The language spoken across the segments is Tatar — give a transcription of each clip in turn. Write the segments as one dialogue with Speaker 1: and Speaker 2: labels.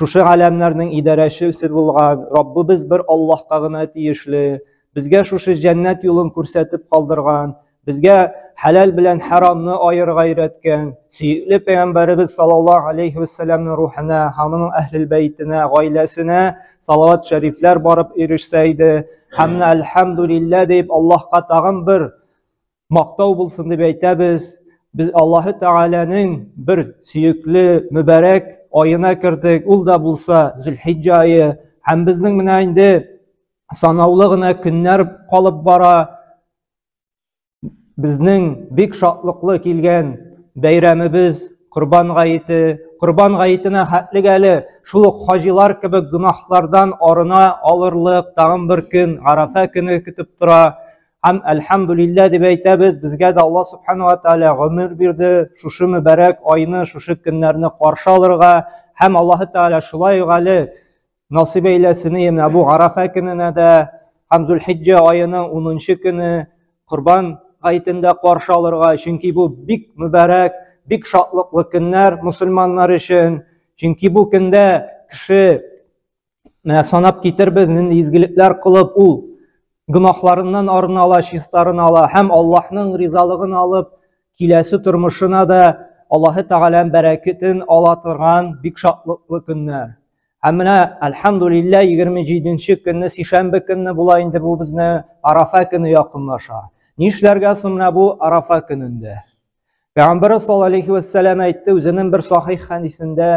Speaker 1: Шушы галәмнәрнең идарәчесе булган Раббыбыз бер Аллаһка гына тиешле, безгә шушы җәннәт юлын күрсәтеп калдырган, безгә хәләл белән харамны аерырга өйрәткән, сөекле пәйгамбәребез саллаллаһу алейхи вәссәламның рухына, аның әһлел бәйтенә, гаиләсенә салават шәрифләр барып ирешсә иде, һәм әлхәмдүлиллә дип Аллаһка тагын бер мактау булсын дип әйтәбез. Без Аллаһы Тәгаләнең бер сөекле, мөбарәк аена кердек. Ул да булса Зөлхиҗҗа айы. Һәм безнең менә инде санаулы гына көннәр калып бара. Безнең бик шатлыклы килгән бәйрәмебез Корбан гаете. Корбан гаетенә хәтлек әле шул ук хаҗилар кебек гөнаһлардан арына алырлык тагын бер көн, Арафа көне көтеп тора. Һәм әлхәмдулиллә дип әйтәбез, безгә дә Алла субхана ва тәгалә гомер бирде, шушы мөбарәк айны, шушы көннәрне каршы алырга, һәм Аллаһы тәгалә шулай ук әле насыйп әйләсен менә бу Арафа көненә дә һәм Зулхиҗҗа аеның 10 көне Корбан гайтендә каршы алырга, чөнки бу бик мөбарәк, бик шатлыклы көннәр мусульманнар өчен. Чөнки бу көндә кеше Менә санап китербез, нинди изгелекләр кылып ул гөнаһларыннан арына ала, чистарын ала һәм Аллаһның ризалыгын алып, киләсе тормышына да Аллаһы Тәгаләнең бәрәкәтен ала торган бик шатлыклы көннәр. Һәм менә альхамдулилла 27-нче көнне сишәмбе көнне була инде бу безне Арафа көне якынлаша. Нишләргә соң менә бу Арафа көнендә? Пәйгамбәрбез саллаллаһу алейхи ва сәлләм әйтте үзенең бер сахих хәдисендә,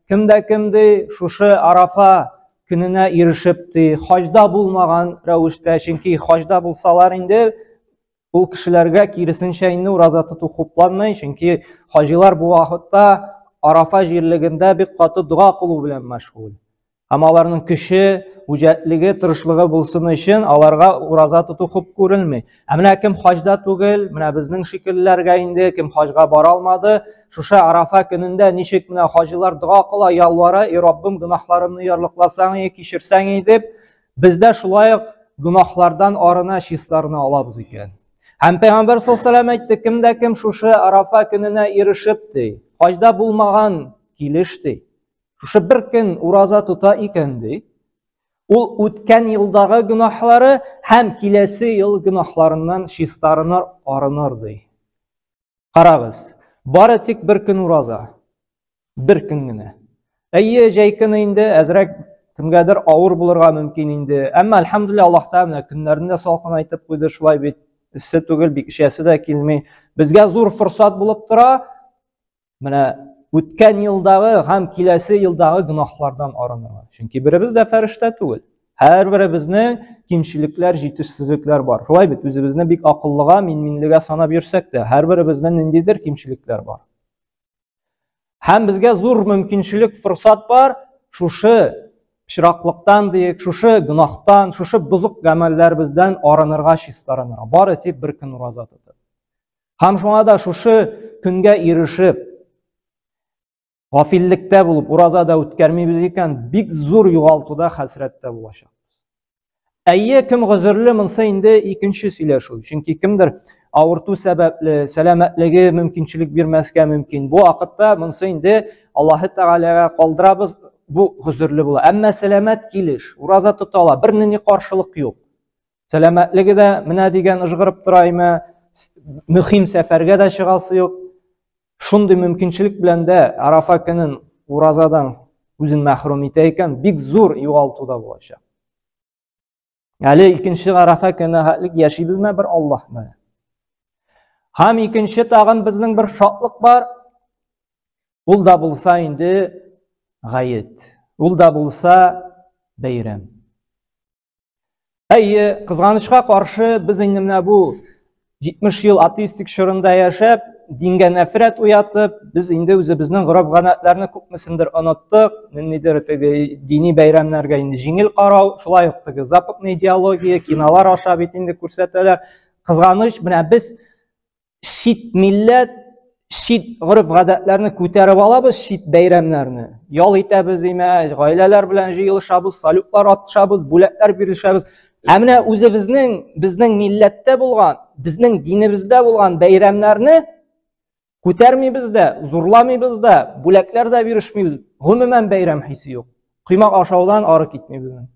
Speaker 1: кем дә кем ди шушы Арафа көненә ирешеп ди, хаҗда булмаган рәвештә, чөнки хаҗда булсалар инде ул кешеләргә киресенчә инде ураза тоту хупланмый, чөнки хаҗилар бу вакытта Арафа җирлегендә бик каты дога кылу белән мәшгуль. Һәм аларның көче, үҗәтлеге, тырышлыгы булсын өчен аларга ураза тоту хуп күрелми. Ә менә кем хаҗда түгел, менә безнең шикелләргә инде кем хаҗга бара алмады, шуша Арафа көнендә ничек менә хаҗилар дога кыла, ялвара, "И Раббым, гөнаһларымны ярлыкласаң и, кичерсәң и" дип, бездә шулай ук гөнаһлардан арына числарны алабыз икән. Һәм Пәйгамбәр саллаллаху алейһи әйтте, кемдә кем шушы Арафа көненә ирешеп ди, хаҗда булмаган килеш ди. Шушы бер көн ураза тота икән ди. Ул үткән елдагы гөнаһлары һәм киләсе ел гөнаһларыннан чистарыныр, арыныр ди. Карагыз, бары тик бер көн ураза. Бер көн генә. Әйе, җәй көне инде әзрәк кемгәдер авыр булырга мөмкин инде. Әмма альхамдулилла Аллаһ Тәгалә көннәрне дә салкын айтып куйды, шулай бит. Эссе түгел, бик эчәсе дә килми. Безгә зур форсат булып тора. Менә үткән елдагы һәм киләсе елдагы гөнаһлардан арынырга. Чөнки беребез дә фәрештә түгел. Һәрберебезнең кимчелекләр, җитешсезлекләр бар. Шулай бит, үзебезне бик акыллыга, мин-минлегә санап йөрсәк тә, һәрберебезнең ниндидер кимчелекләр бар. Һәм безгә зур мөмкинчелек, форсат бар, шушы чираклыктан диек, шушы гөнаһтан, шушы бозык гамәлләребездән арынырга, чистарынырга. Бары тик бер көн ураза тотып. Һәм шуңа да шушы көнгә ирешеп, гафиллектә булып, ураза да үткәрмибез икән, бик зур югалтуда хәсрәттә булачак. Әйе, кем гозерле, монсы инде икенче сөйләшү. Чөнки кемдер авырту сәбәпле, сәламәтлеге мөмкинчелек бирмәскә мөмкин. Бу вакытта монсы инде Аллаһ Тәгаләгә калдырабыз, бу гозерле була. Әмма сәламәт килеш, ураза тота ала, бернинди каршылык юк. Сәламәтлеге дә менә дигән ыжгырып тора име, мөһим сәфәргә дә чыгасы юк. Шундый мөмкинчелек белән дә Арафа көнен уразадан үзен мәхрүм итә икән, бик зур югалту да булачак. Әле икенче Арафа көне хәтлек яшибезме бер Аллаһ белән. Һәм икенче тагын безнең бер шатлык бар. Ул да булса инде гает. Ул да булса бәйрәм. Әйе, кызганычка каршы, без инде менә бу 70 ел атеистик чорында яшәп, дингә нәфрәт уятып, без инде үзебезнең гореф-гадәтләрне күпмесендер оныттык, ниндидер теге дини бәйрәмнәргә инде җиңел карау, шулай ук теге западный идеология, кинолар аша бит инде күрсәтәләр. Кызганыч, менә без чит милләт, чит гореф-гадәтләрне күтәреп алабыз, чит бәйрәмнәрне. Ял итәбез, имәҗ, гаиләләр белән җыелышабыз, салютлар атышабыз, бүләкләр бирелешәбез. Ә менә үзебезнең, безнең милләттә булган, безнең динебездә булган бәйрәмнәрне күтәрмибез дә, зурламыйбыз да, бүләкләр дә бирешмибез. Гомумән бәйрәм хисе юк. Коймак ашаудан ары китмибез.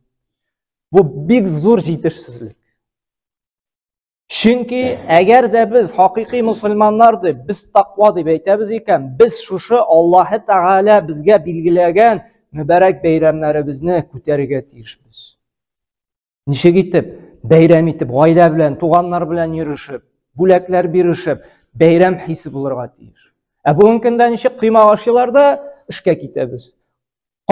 Speaker 1: Бу бик зур җитешсезлек. Чөнки әгәр дә без хакыйкый мусульманнар дип, без тақва дип әйтәбез икән, без шушы Аллаһы Тәгалә безгә билгеләгән мөбарәк бәйрәмнәребезне күтәрергә тиешбез. Ничек итеп? Бәйрәм итеп, гаилә белән, туганнар белән йөришеп, бүләкләр биришеп, бәйрәм хисе булырга тиеш. Ә бүгенге көндә ничек коймак ашыйлар да эшкә китәбез.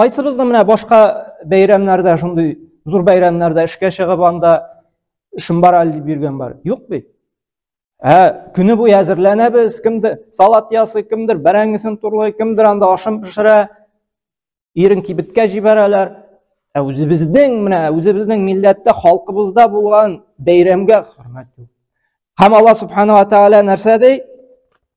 Speaker 1: Кайсыбыз да менә башка бәйрәмнәрдә шундый зур бәйрәмнәрдә эшкә чыгып анда эшем бар әле дип йөргән бар. Юк бит. Ә көне буе әзерләнәбез, кемдер салат ясый, кемдер бәрәңгесен турлый, кемдер анда ашын пешерә, ирен кибеткә җибәрәләр. Ә үзебезнең менә үзебезнең милләттә, халкыбызда булган бәйрәмгә хөрмәт юк. Һәм Алла субхана ва тааля нәрсә ди?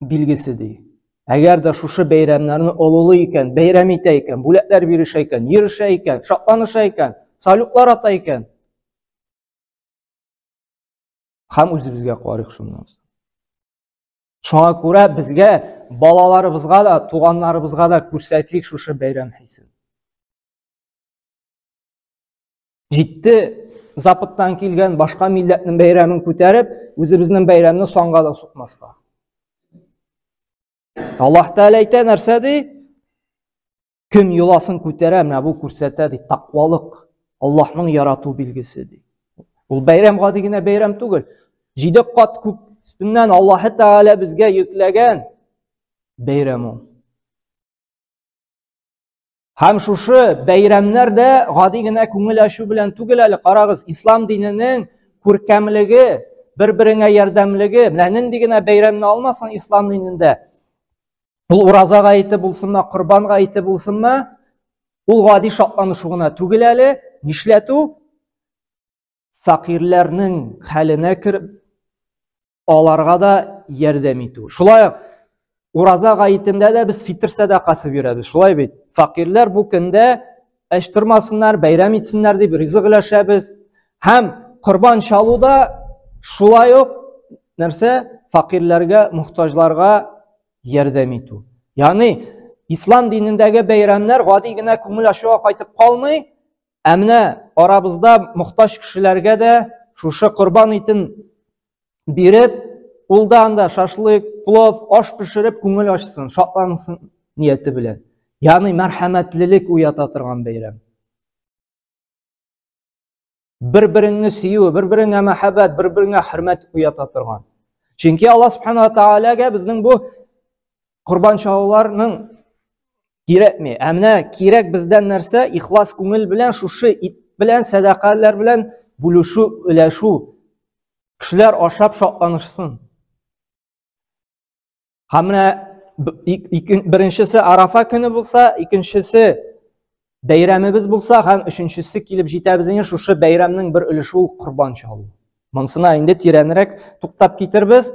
Speaker 1: билгесе ди. Әгәр дә шушы бәйрәмнәрне олылый икән, бәйрәм итә икән, бүләкләр бирешә икән, йөрешә икән, шатланыша икән, салютлар ата икән. Хәм үзебезгә карыйк шуннан соң. Шуңа күрә безгә балаларыбызга да, туганнарыбызга да күрсәтлик шушы бәйрәм хисен. Җитте Западтан килгән башка милләтнең бәйрәмен күтәреп, үзебезнең бәйрәмне санга да сукмаска. Аллаһ Тәгалә әйтә нәрсә ди? Кем йоласын күтәрә, менә бу күрсәтә ди, тақвалык, Аллаһның ярату билгесе ди. Ул бәйрәм гади генә бәйрәм түгел. Җиде кат күк өстеннән Аллаһ Тәгалә безгә йөкләгән бәйрәм ул. Һәм шушы бәйрәмнәр дә гади генә күңел ачу белән түгел әле, карагыз, ислам диненең күркәмлеге, бер-береңә ярдәмлеге, менә нинди генә бәйрәмне алмасын ислам динендә. Ул ураза гаете булсынмы, корбан гаете булсынмы, ул гади шатланышу гына түгел әле, нишләтү? Фәкыйрьләрнең хәленә кереп, аларга да ярдәм итү. Шулай ук ураза гаетендә дә без фитр сәдакасы бирәбез. Шулай бит. Факирләр бу көндә әч тормасыннар, бәйрәм итсеннәр дип ризык өләшәбез. Һәм корбан чалуда шулай ук нәрсә? Факирләргә, мохтаҗларга ярдәм итү. Ягъни ислам динендәге бәйрәмнәр гади генә күңел ачуга кайтып калмый, Ә менә арабызда мохтаҗ кешеләргә дә шушы корбан итен биреп, ул да анда шашлык, плов, аш пешереп күңел ачсын, шатлансын нияте белән. Ягъни мәрхәмәтлелек уята торган бәйрәм. Бер-береңне сөю, бер-береңә мәхәббәт, бер-береңә хөрмәт уята торган. Чөнки Алла Субхану ва Таалагә безнең бу корбан чалуларның кирәкми. Ә менә кирәк бездән нәрсә? Ихлас күңел белән шушы ит белән, сәдакалар белән бүлешү, өләшү. Кешеләр ашап шатланышсын. Һәм менә беренчесе Арафа көне булса, икенчесе бәйрәмебез булса һәм өченчесе килеп җитә безнең шушы бәйрәмнең бер өлеше ул корбан чалу. Монысына инде тирәнрәк туктап китербез.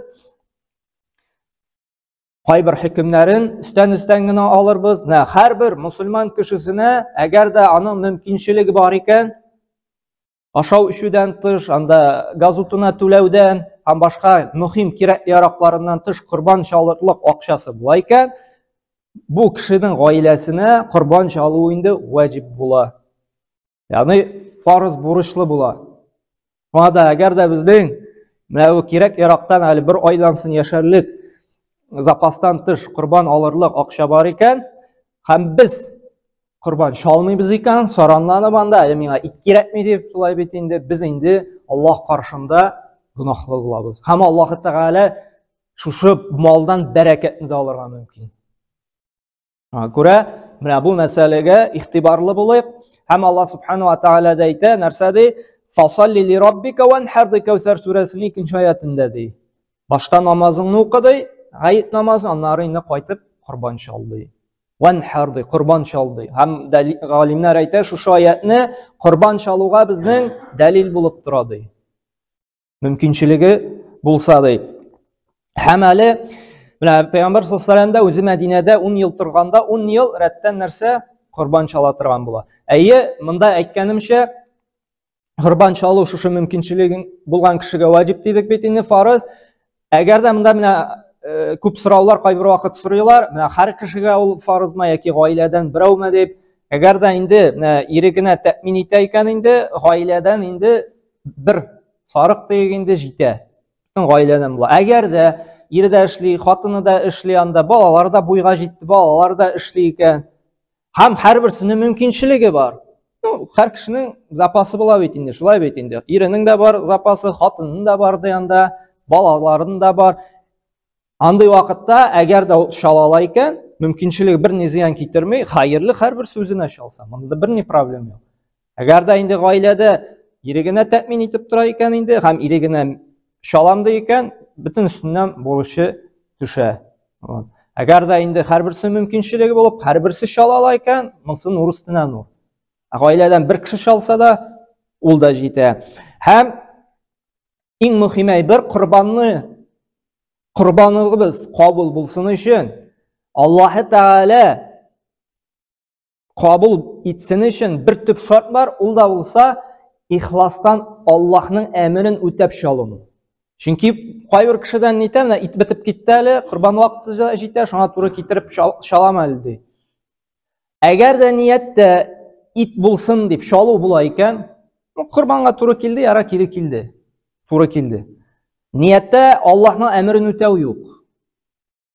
Speaker 1: кайбер хөкемнәрен өстән өстән генә алырбыз нә һәрбер мусульман кешесенә әгәр дә аның мөмкинчелеге бар икән ашау эчүдән тыш анда газ утына түләүдән һәм башка мөһим кирәк яракларыннан тыш корбан чалырлык акчасы була икән бу кешенең гаиләсенә корбан чалу инде ваҗиб була Ягъни фарыз бурычлы була. Шуңа да әгәр дә безнең менә бу кирәк ярактан әле бер айдан сон яшәрлек запастан тыш корбан алырлык акча бар икән, һәм без корбан чалмыйбыз икән, соранланып анда, әле миңа ит кирәкми дип, шулай бит инде, без инде Аллаһ каршында гөнаһлы булабыз. Һәм Аллаһ Тәгалә шушы малдан бәрәкәтне дә алырга мөмкин. Күрә, менә бу мәсьәләгә ихтибарлы булыйк. Һәм Аллаһ субхану ва тааля да әйтә, нәрсә ди? Фасалли ли раббика ванхар ди Кәүсәр сүрәсенең икенче аятында ди. Башта намазыңны укы ди, гает намазы, аннары инде кайтып корбан чал ди. Ванхар ди, корбан чал ди. Һәм галимнәр әйтә, шушы аятны корбан чалуга безнең дәлил булып тора ди. мөмкинчелеге булса ди. Һәм әле менә Пәйгамбәр саллаллаһу алейһи дә үзе Мәдинәдә 10 ел торганда 10 ел рәттән нәрсә корбан чала торган була. Әйе, монда әйткәнемчә корбан чалу шушы мөмкинчелеге булган кешегә ваҗиб дидек бит инде фарыз. Әгәр дә монда менә э, күп сораулар кайбер вакыт сорыйлар, менә һәр кешегә ул фарызмы яки гаиләдән берәүме дип, әгәр дә инде менә ире генә тәэмин итә икән инде, гаиләдән инде бер сарык тиек инде җитә. Бөтен гаиләдән була. Әгәр дә ире дә эшли, хатыны да эшли анда, балалар да буйга җитте, балалар да эшли икән. һәм һәрберсенең мөмкинчелеге бар ну һәр кешенең запасы була бит инде шулай бит инде иренең дә бар запасы хатынның да бар янында балаларының да бар андый вакытта әгәр дә чала ала икән мөмкинчелеге бер ни зыян китерми хәерле һәрберсе үзенә чалса монда бер ни проблема юк Әгәр дә инде гаиләдә ире генә тәэмин итеп тора икән инде һәм ире генә шалам ди икән, бөтен өстеннән бурычы төшә. Әгәр дә инде һәрберсе мөмкинчелеге булып, һәрберсе шала ала икән, монсы нур өстенә нур. Ә гаиләдән бер кеше шалса да, ул да җитә. Һәм иң мөһим әйбер корбанны корбаныбыз кабул булсын өчен Аллаһы Тәгалә кабул итсен өчен бер төп шарт бар, ул да булса ихластан Аллаһның әмерен үтәп чалыну. Чөнки кайбер кешедән нитә, менә ит бетеп китте әле, корбан вакыты җитә, шуңа туры китереп чалам әле ди. Әгәр дә нияттә ит булсын дип чалу була икән, ну корбанга туры килде, яра кире килде. Туры килде. Нияттә Аллаһның әмерен үтәү юк.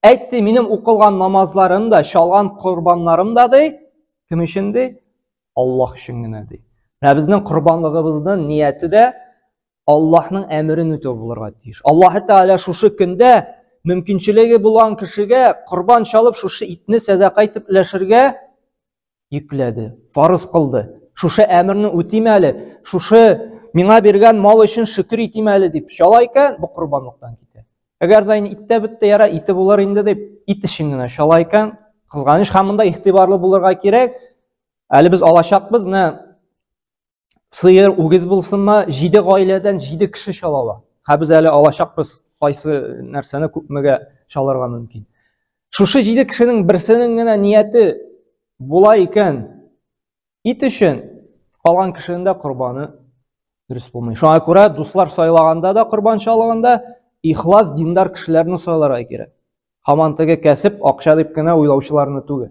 Speaker 1: Әйтте, минем укылган намазларым да, чалган корбаннарым да ди, кем өчен ди? Аллаһ өчен генә ди. Менә безнең корбанлыгыбызның нияте дә Аллаһның әмерен үтәү булырга тиеш. Аллаһ Тәгалә шушы көндә мөмкинчелеге булган кешегә корбан чалып шушы итне сәдака итеп өләшергә йөкләде, фарыз кылды. Шушы әмерне үтим әле, шушы миңа биргән мал өчен шөкер итим әле дип чала икән, бу корбанлыктан китә. Әгәр дә инде иттә бетте, яра ите булыр инде дип ит өчен генә чала икән, кызганыч һәм монда игътибарлы булырга кирәк. Әле без алачакбыз, менә сыер, үгез булсын ма, җиде гаиләдән җиде кеше чала ала. Һә без әле алачакбыз, кайсы нәрсәне күпмегә чалырга мөмкин. Шушы җиде кешенең берсенең генә нияте була икән, ит өчен калган кешенең дә корбаны дөрес булмый. Шуңа күрә дуслар сайлаганда да корбан чалганда ихлас диндар кешеләрне сайларга кирәк. Хаман теге кәсеп, акча дип кенә уйлаучыларны түгел.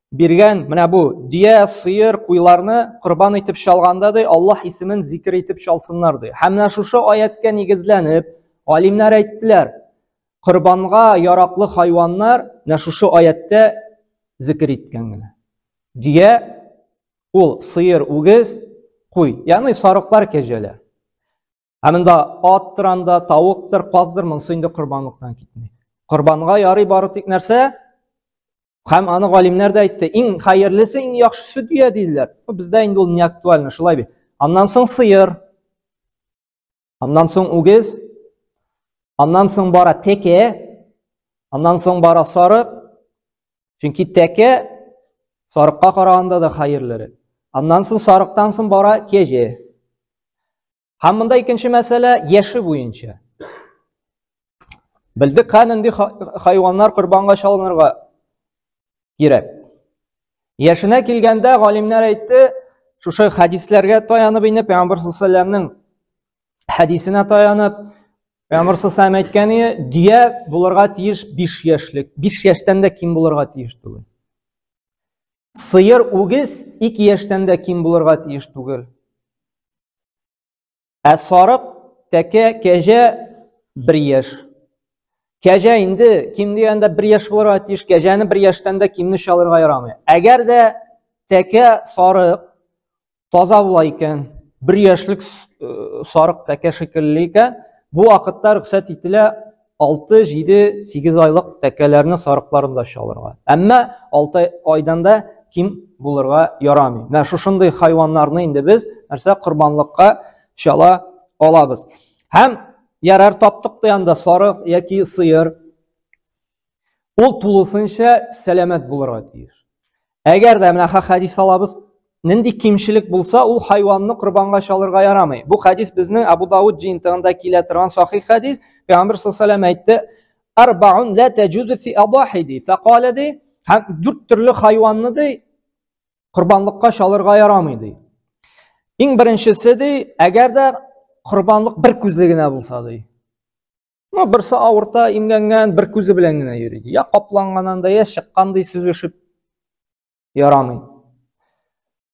Speaker 1: биргән менә бу дөя сыер куйларны корбан итеп чалганда ди аллаһ исемен зикер итеп чалсыннар ди һәм менә шушы аятка нигезләнеп галимнәр әйттеләр корбанга яраклы хайваннар менә шушы аяттә зикер иткән генә дөя ул сыер үгез куй ягъни сарыклар кәҗәләр Ә монда аттыр анда, тавыктыр, каздыр, монысы инде корбанлыктан китми. Корбанга ярый бары тик нәрсә? Һәм аны галимнәр дә әйтте, иң хәерлесе, иң яхшысы дөя диделәр. Бездә инде ул не актуально, шулай бит. Аннан соң сыер. Аннан соң үгез. Аннан соң бара теке. Аннан соң бара сарык. Чөнки тәкә сарыкка караганда да хәерлерәк. Аннан соң сарыктан соң бара кәҗә. Һәм монда икенче мәсьәлә яше буенча. Белдек һәм инде хайваннар корбанга чалынырга кирәк. Яшенә килгәндә галимнәр әйтте, шушы хәдисләргә таянып инде Пәйгамбер саллаллаһу алейһи хәдисенә таянып, Пәйгамбәр сәлләм әйткәне, дөя булырга тиеш 5 яшьлек. 5 яшьтән дә ким булырга тиеш түгел. Сыер, үгез 2 яшьтән дә ким булырга тиеш түгел. Ә сарык, тәкә, кәҗә 1 яшь. Кәҗә инде ким дигәндә 1 яшь булырга тиеш. Кәҗәне 1 яшьтән дә кимне чалырга ярамый. Әгәр дә тәкә, сарык таза була икән, бер яшьлек э, сарык тәкә шикелле икән, бу вакытта рөхсәт ителә 6, 7, 8 айлык тәкәләрне сарыкларын да чалырга. Әмма 6 айдан да ким булырга ярамый. Менә шушындый хайваннарны инде без нәрсә корбанлыкка чала алабыз. Һәм ярар таптык та анда сарык яки сыер. Ул тулысынча сәламәт булырга тиеш. Әгәр дә менә хәдис алабыз, нинди кимчелек булса, ул хайванны корбанга чалырга ярамый. Бу хәдис безнең Абу Дауд җыентыгында килә торган сахих хәдис. Пәйгамбер саллаллаху әйтте: "Арбаун ла таҗузу фи адахиди". Факала ди, һәм дүрт төрле хайванны ди корбанлыкка чалырга ярамый ди. Иң беренчесе ди, әгәр дә корбанлык бер күзле генә булса ди. Ну, берсе авырта, имгәнгән, бер күзе белән генә йөри. Я капланганнан да, я чыккандай сөзешеп ярамый.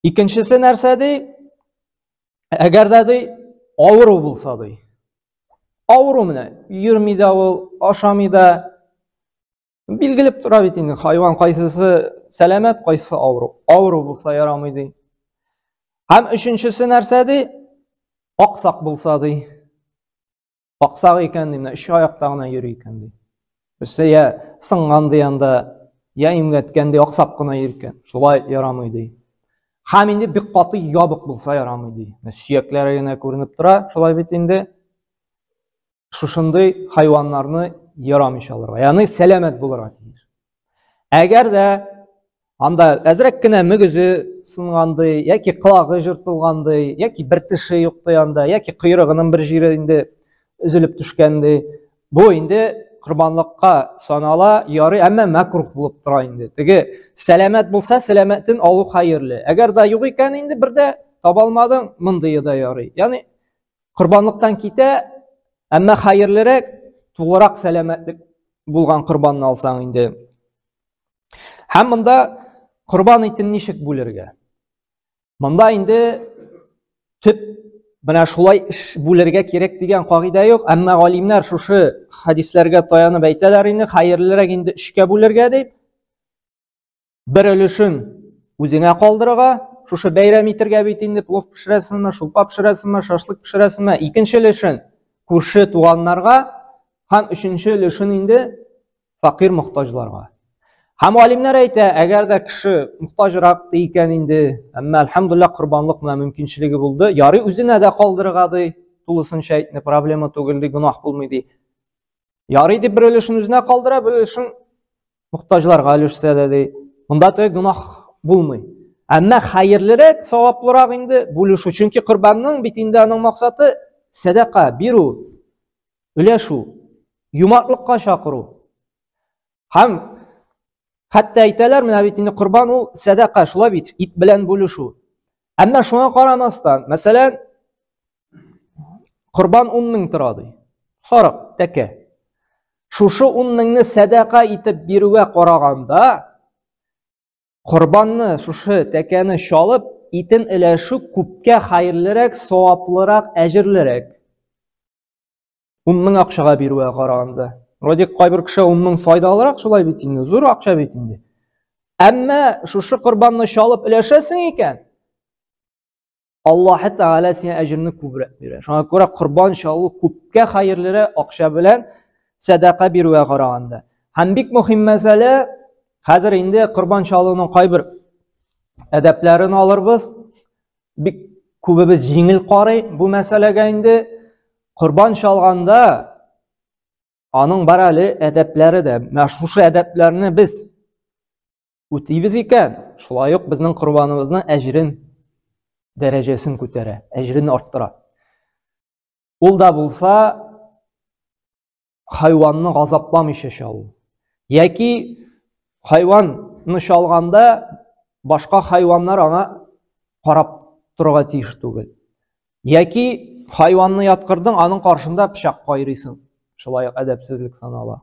Speaker 1: Икенчесе нәрсә ди? Әгәр дә ди, авыру булса ди. Авыру менә, йөрми дә ул, ашамый да. Билгелеп тора бит инде, хайван кайсысы сәламәт, кайсысы авыру. Авыру булса ярамый ди. Һәм өченчесе нәрсә ди? Аксак булса ди. Аксак икән, ди, менә өч аякта гына йөри икән, ди. Берсе я сынган ди анда, я имгәткән ди, аксап кына йөри икән. Шулай ярамый, ди. Хәм инде бик каты ябык булса ярамый, ди. Менә сөякләре генә күренеп тора, шулай бит инде. Шушындый хайваннарны ярамыйча алырга. Ягъни сәламәт булырга тиеш. Әгәр дә Анда әзрәк кенә мөгезе сынгандый, яки кылагы жыртылгандый, яки бер теше юкты анда, яки койрыгының бер җире инде өзелеп төшкәндей. Бу инде корбанлыкка санала, ярый, әмма мәкрух булып тора инде. Теге сәламәт булса, сәламәтен алу хәерле. Әгәр дә юк икән инде бер дә таба алмадың, мондые да ярый. Ягъни корбанлыктан китә, әмма хәерлерәк, тулырак сәламәтлек булган корбанны алсаң инде. Һәм монда корбан итен ничек бүлергә? Монда инде төп менә шулай эш бүлергә кирәк дигән кагыйдә юк, әмма галимнәр шушы хадисләргә таянып әйтәләр инде, хәерлерәк инде өчкә бүлергә дип. Бер өлешен үзеңә калдырырга, шушы бәйрәм итергә бит инде плов пешерәсеңме, шулпа пешерәсеңме, шашлык пешерәсеңме, икенче өлешен күрше туганнарга һәм өченче өлешен инде факир мохтаҗларга. Һәм алимнәр әйтә, әгәр дә кеше мохтаҗрак та икән инде, әмма альхамдулилла корбанлык менә мөмкинчелеге булды, ярый үзенә дә калдырырга ди, тулысынча әйтне, проблема түгел ди, гөнаһ булмый ди. Ярый дип бер өлешен үзенә калдыра, бер өлешен мохтаҗларга өлешсә дә ди. Монда теге гөнаһ булмый. Әмма хәерлерәк, саваплырак инде бүлешү, чөнки корбанның бит инде аның максаты сәдака бирү. өләшү, юмартлыкка чакыру. Һәм хәтта әйтәләр, менә бит инде корбан ул сәдака, шулай бит, ит белән бүлешү. Әмма шуңа карамастан, мәсәлән, корбан 10 мең тора ди. Сарык, тәкә. Шушы 10 меңне сәдака итеп бирүгә караганда, корбанны, шушы тәкәне чалып, итен өләшү күпкә хәерлерәк, саваплырак, әҗерлерәк. ун мең акчага бирүгә караганда вроде кайбер кеше ун мең файдалырак шулай бит инде зур акча бит инде әмма шушы корбанны чалып өләшәсең икән аллаһы тәғәлә сиңа әҗерне күбрәк бирә шуңа күрә корбан чалу күпкә хәерлерәк акча белән сәдака бирүгә караганда һәм бик мөһим мәсьәлә хәзер инде корбан чалуның кайбер әдәпләрен алырбыз бик күбебез җиңел карый бу мәсьәләгә инде. Корбан чалганда аның бар әле әдәпләре дә. Менә шушы әдәпләрне без үтибез икән, шулай ук безнең корбаныбызның әҗрен дәрәҗәсен күтәрә, әҗрен арттыра. Ул да булса хайванны газапламыйча чалу. Яки хайванны чалганда башка хайваннар аңа карап торырга тиеш түгел. Яки хайванны яткырдың, аның каршында пычак кайрыйсың. Шулай әдәпсезлек санала.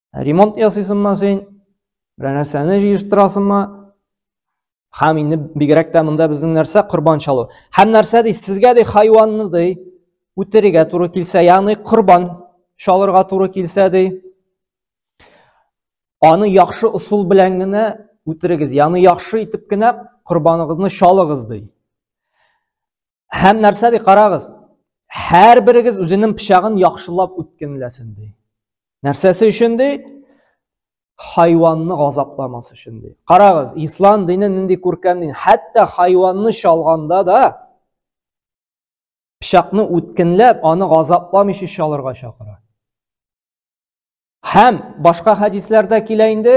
Speaker 1: Ремонт ясыйсыңмы син? Берәр нәрсәне җыештырасыңмы? Һәм инде бигрәк тә монда безнең нәрсә корбан чалу. Һәм нәрсә ди, сезгә ди хайванны ди үтерергә туры килсә, ягъни корбан чалырга туры килсә ди, аны яхшы усул белән генә үтерегез, ягъни яхшы итеп кенә корбаныгызны чалыгыз ди. Һәм нәрсә ди, карагыз, һәр берегез үзенең пычагын яхшылап үткенләсен ди. Нәрсәсе өчен ди? Хайванны газапламас өчен ди. Карагыз, ислам дине нинди күркәм дин. Хәтта хайванны чалганда да пычакны үткенләп, аны газапламыйча чалырга чакыра. Һәм башка хәдисләрдә килә инде,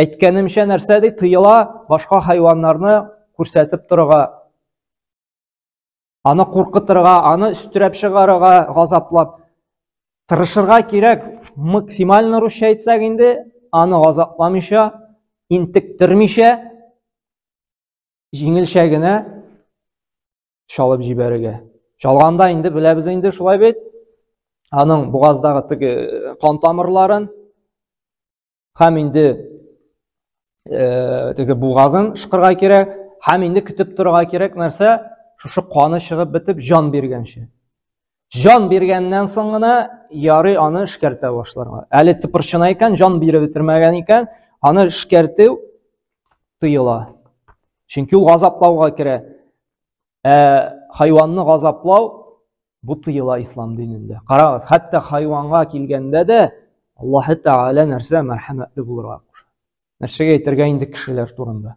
Speaker 1: әйткәнемчә нәрсә ди, тыела башка хайваннарны күрсәтеп торырга, аны куркытырга, аны өстерәп чыгарырга, газаплап тырышырга кирәк. Максимально русча әйтсәк инде, аны газапламыйча, интектермичә, җиңелчә генә чалып җибәрергә чалганда инде беләбез инде шулай бит аның бугаздагы теге э, кан тамырларын һәм инде э, теге бугазын шыкырга кирәк һәм инде көтеп торырга кирәк нәрсә шушы каны чыгып бетеп җан биргәнче Җан биргәннән соң гына ярый аны эшкәртә башларга. Әле тыпырчына икән, җан биреп бетермәгән икән, аны эшкәртү тыела. Чөнки ул газаплауга керә. Ә хайванны газаплау бу тыела ислам динендә. Карагыз, хәтта хайванга килгәндә дә Аллаһы Тәгалә нәрсә мәрхәмәтле булырга куша. Нәрсәгә әйтергә инде кешеләр турында?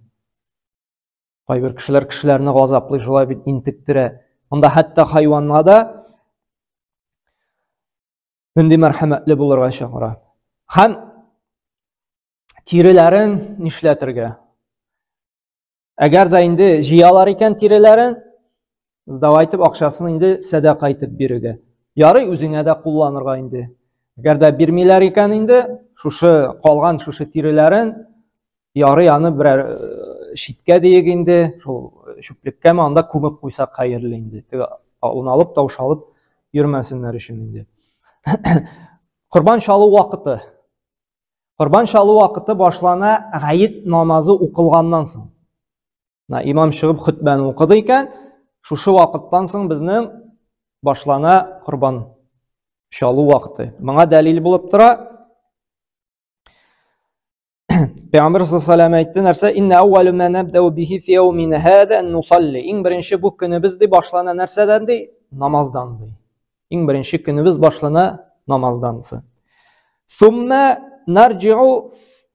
Speaker 1: Кайбер кешеләр кешеләрне газаплый шулай бит интектерә. Монда хәтта хайванга да нинди мәрхәмәтле булырга чакыра. Һәм тиреләрен нишләтергә? Әгәр дә инде җыялар икән тиреләрен, сдава итеп акчасын инде сәдака итеп бирүгә ярый үзеңә дә кулланырга инде әгәр дә бирмиләр икән инде шушы калган шушы тиреләрен ярый аны берәр читкә диек инде шул чүплеккәме анда күмеп куйсак хәерле инде теге уналып таушалып йөрмәсеннәр өчен инде корбан чалу вакыты корбан чалу вакыты башлана гает намазы укылганнан соң Мына имам чыгып хөтбәне укыды икән, шушы вакыттан соң безнең башлана корбан чалу вакыты. Моңа дәлил булып тора. Пәйгамбер саллаллаху әйтте нәрсә? Инна аввалу ма набдау бихи фи яумин хада нусалли. Иң беренче бу көнебез ди башлана нәрсәдән ди? Намаздан ди. Иң беренче көнебез башлана намаздан. Сумма нарҗиу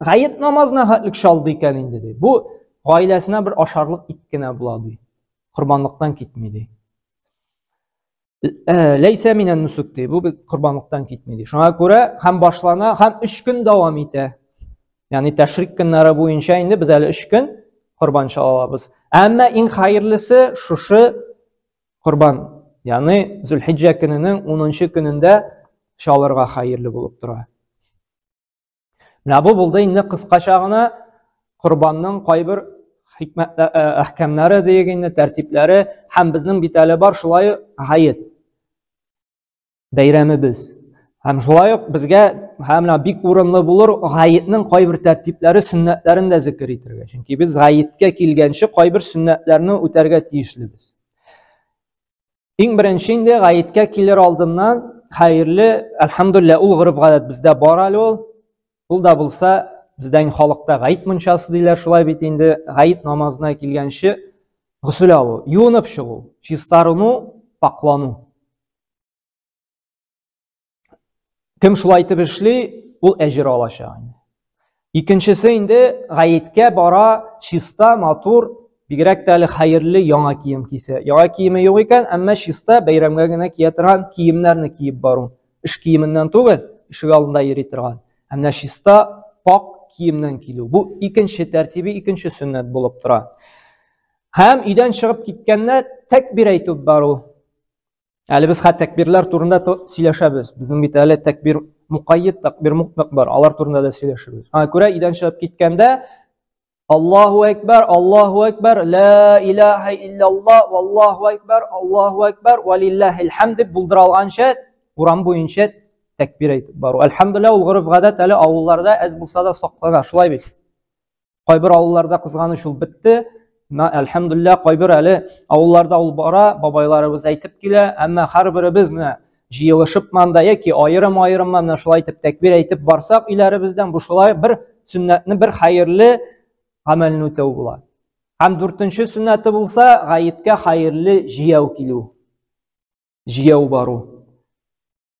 Speaker 1: Гает намазына хәтлек чалды икән инде ди. Бу гаиләсенә бер ашарлык ит кенә була ди. Корбанлыктан китми ди. Э, Ләйсә минән нусук ди. Бу корбанлыктан китми ди. Шуңа күрә һәм башлана, һәм 3 көн дәвам итә. Ягъни тәшрик көннәре буенча инде без әле 3 көн корбан чалабыз. Әмма иң хәерлесе шушы корбан, ягъни Зулхиҗҗә көненең 10 көнендә чалырга хәерле булып тора. Менә бу булды инде кыскача гына корбанның кайбер хикмәт э, э, әхкәмнәре диек инде, тәртипләре һәм безнең бит әле бар шулай гает бәйрәмебез. Һәм шулай ук безгә һәм менә бик урынлы булыр гаетнең кайбер тәртипләре, сөннәтләрен дә зикер итәргә. Чөнки без гаеткә килгәнче кайбер сөннәтләрне үтәргә тиешлебез. Иң беренче инде гаеткә килер алдыннан хәерле, әлхәмдулилла, ул гырыф гадәт бездә бар әле ул. Ул да булса, бездә инде халыкта гаит мунчасы диләр, шулай бит инде гаит намазына килгәнче гусул алу, юынып чыгу, чистарыну, паклану. Кем шулай итеп эшли, ул әҗер алачак инде. Икенчесе инде гаеткә бара, чиста, матур, бигрәк тә әле хәерле яңа кием кисә. Яңа киеме юк икән, әмма чиста бәйрәмгә генә кия торган киемнәрне киеп бару. Эш киеменнән түгел, ишек алдында йөри торган. Ә менә чиста, пак киемнән килү. Бу икенче тәртибе, икенче сөннәт булып тора. Һәм өйдән чыгып киткәндә тәкбир әйтеп бару. Әле без хәтта тәкбирләр турында сөйләшәбез. Безнең бит әле тәкбир мукаййид, тәкбир мутлак бар. Алар турында да сөйләшәбез. Аңа күрә идән чыгып киткәндә Аллаһу әкбәр, Аллаһу әкбәр, ла илаһа илляллаһ, валлаһу әкбәр, Аллаһу әкбәр, валиллахил хәмд дип булдыра алганча урам буенча тәкбир әйтеп бару. Әлхәмдулилла ул горыф гадәт әле авылларда әз булса да саклана. Шулай бит. Кайбер авылларда кызганыч ул бетте. Әлхәмдулилла, кайбер әле авылларда ул бара, бабайларыбыз әйтеп килә, әмма һәрберебез менә җыелышып манда яки аерым-аерым менә шулай итеп тәкбир әйтеп барсак өйләребездән бу шулай бер сөннәтне бер хәерле гамәлне үтәү була. Һәм дүртенче сөннәте булса, гаеткә хәерле җияү килү. Җияү бару.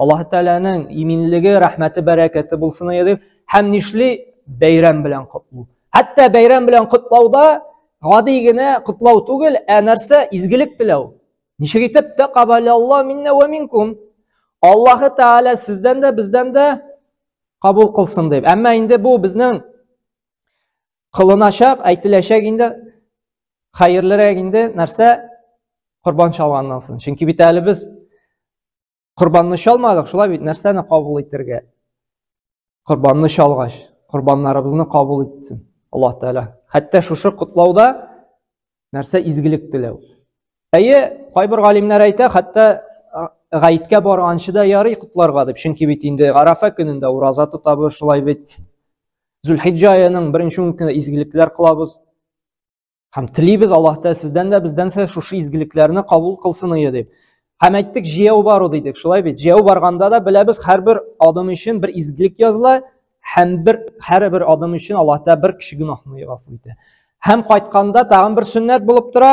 Speaker 1: Аллаһ Тәгаләнең иминлеге, рәхмәте, бәрәкәте булсын иде. Һәм нишли бәйрәм белән котлау. Хәтта бәйрәм белән котлауда гади генә котлау түгел, ә нәрсә изгелек теләү. Ничек итеп тә кабалялла миннә ва минкум. Аллаһ Тәгалә сездән дә, бездән дә кабул кылсын дип. Әмма инде бу безнең кылыначак, әйтеләчәк инде хәерлерәк инде нәрсә корбан чалганнан соң. Чөнки бит әле без Корбанны чалмадык, шулай бит нәрсәне кабул итәргә? Корбанны чалгач, корбаннарыбызны кабул итсен Аллаһ Тәгалә. Хәтта шушы котлауда нәрсә изгелек теләү. Әйе, кайбер галимнәр әйтә, хәтта гаеткә барганчы да ярый котларга дип. Чөнки бит инде Арафа көнендә ураза тотабыз, шулай бит. Зулхиҗҗа аеның беренче ун көне изгелекләр кылабыз. Һәм телибез Аллаһ Тәгалә сездән дә бездән дә шушы изгелекләрне кабул кылсын ие дип. Һәм әйттек, җәяү бару дидек, шулай бит. Җәяү барганда да беләбез, һәрбер адым өчен бер изгелек языла, һәм бер һәрбер адым өчен Аллаһ Тәгалә бер кеше гөнаһны яфу итә. Һәм кайтканда тагын бер сөннәт булып тора,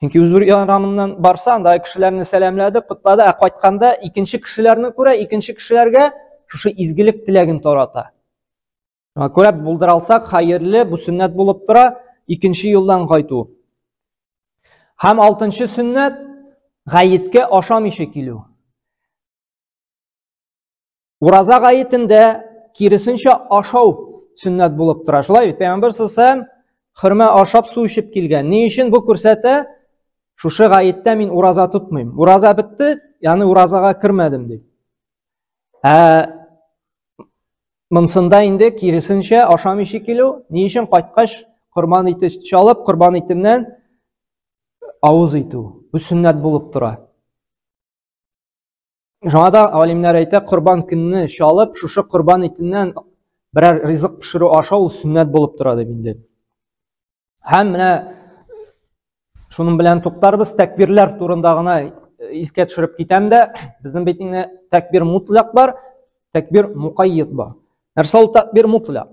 Speaker 1: Чөнки Үзбүр ярамыннан барса, анда кешеләрне сәламләде, котлады, ә кайтканда икенче кешеләрне күрә, икенче кешеләргә шушы изгелек теләген тарата. Шуңа күрә булдыра алсак, хәерле, бу сөннәт булып тора, икенче юлдан кайту. Һәм алтынчы сөннәт гаеткә ашамыйча килү. Ураза гаетендә киресенчә ашау сөннәт булып тора. Шулай бит, Пәйгамбәр саллаллаху хөрмә ашап су эчеп килгән. Ни өчен бу күрсәтә? Шушы гаеттә мин ураза тотмыйм. Ураза бетте, яны уразага кермәдем дип. Ә монсында инде киресенчә ашамыйча килү, ни өчен кайткач корбан ите чалып, корбан итеннән авыз итү. Бу сөннәт булып тора. Шуңа да алимнәр әйтә, корбан көнне чалып, шушы корбан итеннән берәр ризык пешерү аша ул сөннәт булып тора дип инде. Һәм менә шуның белән туктарбыз, тәкбирләр турында гына искә төшереп китәм дә, безнең бит инде тәкбир мутлак бар, тәкбир мукаййит бар. Нәрсә ул тәкбир мутлак?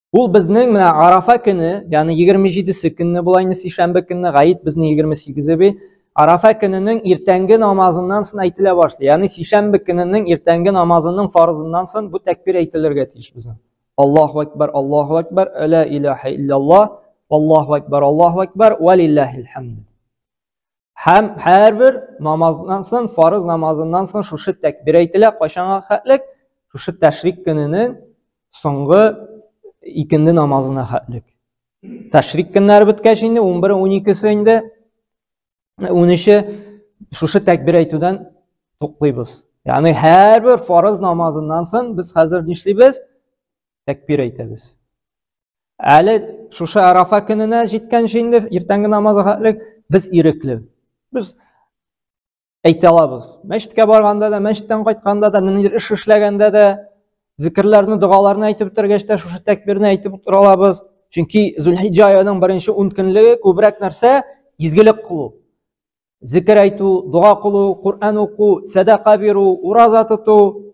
Speaker 1: Ул безнең менә Арафа көне, ягъни 27-се көнне була инде сишәмбе көнне, гаит безнең 28-е бит. Арафа көненең иртәнге намазыннан соң әйтелә башлый. Ягъни сишәмбе көненең иртәнге намазының фарызыннан соң бу тәкбир әйтелергә тиеш безнең. Аллаһу акбар, Аллаһу акбар, ла илаһа илляллаһ, Аллаһу акбар, Аллаһу акбар, ва лиллаһил хамд. һәм һәрбер намаздан соң фарыз намазыннан соң шушы тәкбир әйтелә кайчанга хәтлек шушы тәшрик көненең соңгы икенде намазына хәтлек тәшрик көннәре беткәч инде ун бер ун икесе инде ун өче шушы тәкбир әйтүдән туктыйбыз ягъни һәрбер фарыз намазыннан соң без хәзер нишлибез тәкбир әйтәбез. Әле шушы Арафа көненә җиткәнче инде иртәнге намазга хәтлек без ирекле. Без әйтә алабыз. Мәчеткә барганда да, мәчеттән кайтканда да, ниндидер эш эшләгәндә дә, зикерләрне, догаларны әйтеп бетергәч тә шушы тәкбирне әйтеп утыра алабыз. Чөнки Зулхиҗҗа аеның беренче 10 көнлеге күбрәк нәрсә? Изгелек кылу. Зикер әйтү, дога кылу, Коръән уку, сәдака бирү, ураза тоту,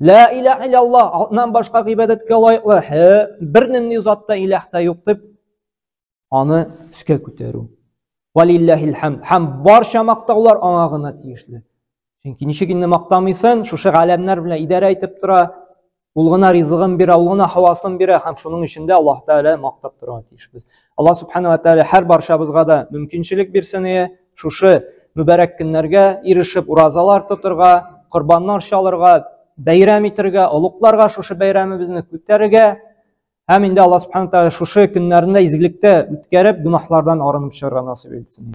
Speaker 1: Лә иләһ илаллаһ, атнан башка гыйбадәткә лаеклы бер нинди зат та иләһ тә юк дип, аны өскә күтәрү. Валилләһил хәмд. Һәм барча мактаулар аңа гына тиешле. Чөнки ничек инде мактамыйсын, шушы галәмнәр белән идарә итеп тора, ул гына ризыгын бирә, ул гына һавасын бирә һәм шуның өчен дә Аллаһ Тәгалә мактап торырга тиешбез. Аллаһ Субхану ва Тәгалә һәр барчабызга да мөмкинчелек бирсен, Шушы мөбәрәк көннәргә ирешеп уразалар тотырга, корбаннар чалырга, бәйрәм итергә, олукларга шушы бәйрәмебезне күтәрергә һәм инде Алла субхана тәгалә шушы көннәрне изгелектә үткәреп, гөнаһлардан арынып чыгарга насыйп итсен.